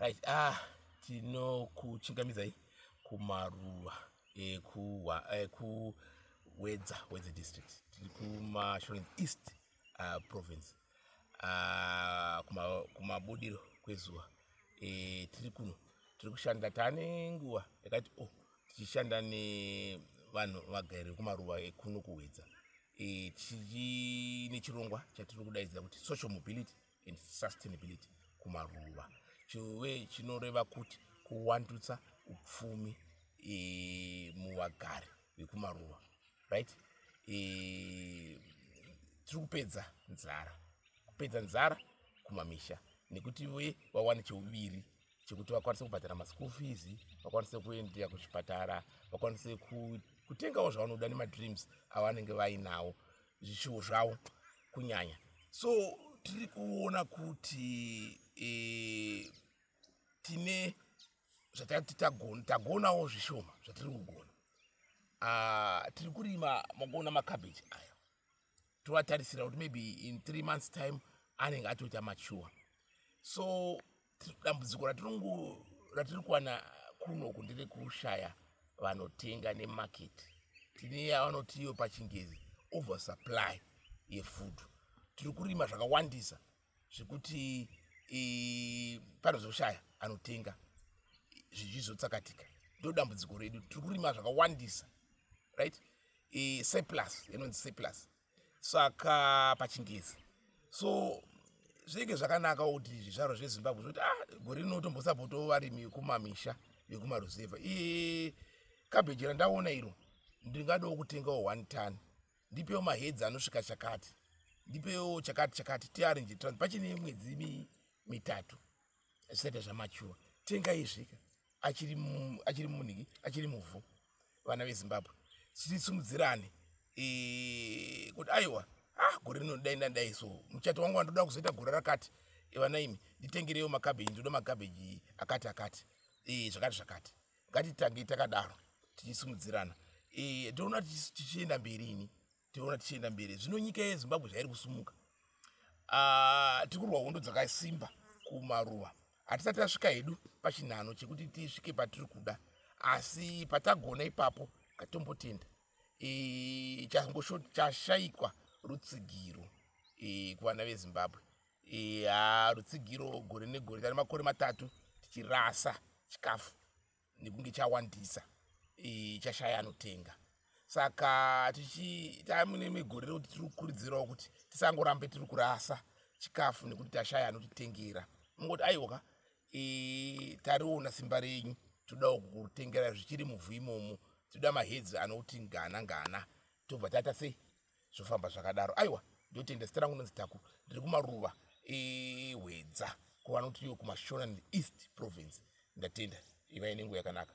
right ah tinokuchingamidzai kumaruva ekuwedza eh, wedze district tiri kumashoren east uh, province uh, kumabudiro kuma kwezuva e, tiri kuno tiri kushanda tane nguva yakati o oh, tichishanda nevanhu vagari vekumaruva ekuno kuwedza e, chine chirongwa chatiri kudaidzira kuti social mobility and sustainability kumaruva chive chinoreva kuti kuwandutsa upfumi e, muvagari vekumaruva right e, tiri kupedza nzara kupedza nzara kumamisha nekuti ve vawane cheuviri chekuti vakwanise kubhadhara maschool fees vakwanise kuendea kuzvipatara vakwanise kutengawo zvavanoda nemadreams avanenge vainawo zvishuwo zvavo kunyanya so tiri kuona kuti e, tine zvatati tagona tagonawo zvishoma zvatiri kugona ah, tiri kurima makuona macabbage aya tovatarisira kuti maybe in three months time anenge atoita mature so dambudziko ratiri kuwana kunoku ndere kushaya vanotenga nemarket tine yavanotiyo pachingezi oversupply yefood tiri kurima zvakawandisa zvekuti panozoshaya anotenga zvichizotsakatika ndo dambudziko redu tiri kurima zvakawandisa right surplus inonzi surplus saka pachingezi so zvinenge zvakanaka kuti zvizvaro zvezimbabwe zvoti ah gore rino tombosapotawo varimi vekumamisha vekumaruzevha i kabheji randaona iro ndingadawo kutengawo one ton ndipewo mahedzi anosvika chakati ndipewo chakati chakati tiarinje trans pachine mwedzi mitatu zvisaita zvamachuwa tenga izvika achiri achiri muniki achiri muvhu vana vezimbabwe sitisimudzirane e, kuti aiwa ah gore rino dai ndandai so muchato wangu wandoda kuzoita gore rakati vana imi nditengerewo makabeji ndoda makabeji akati akati e, zvakati zvakati ngatitange takadaro tichisimudzirana e, ndoona tichienda mberi ini tinoona tichienda mberi zvino nyika yezimbabwe zvairi kusumuka ah, tiri kurwa hondo dzakasimba kumaruva hatisati tasvika hedu pachinhano chekuti tisvike patiri kuda asi patagona ipapo katombotenda e, changosho chashayikwa rutsigiro e, kuvana vezimbabwe e, rutsigiro gore negore tane makore matatu tichirasa chikafu nekunge chawandisa e, chashaya anotenga saka tichitamune megore rekuti tiri kukurudzirawo kuti tisangorambe tiri kurasa chikafu nekuti tashaya anotitengera mungoti aiwoka e, tariona simba renyu todawo kutengera zvichiri muvhu imomo toda mahedzi anoti ngana ngana tobva taita sei zvofamba zvakadaro aiwa ndotenda zita rangu nonzi taku ndiri kumaruva ehwedza kuvanoti iyo kumashona east province ndatenda ivai nenguva yakanaka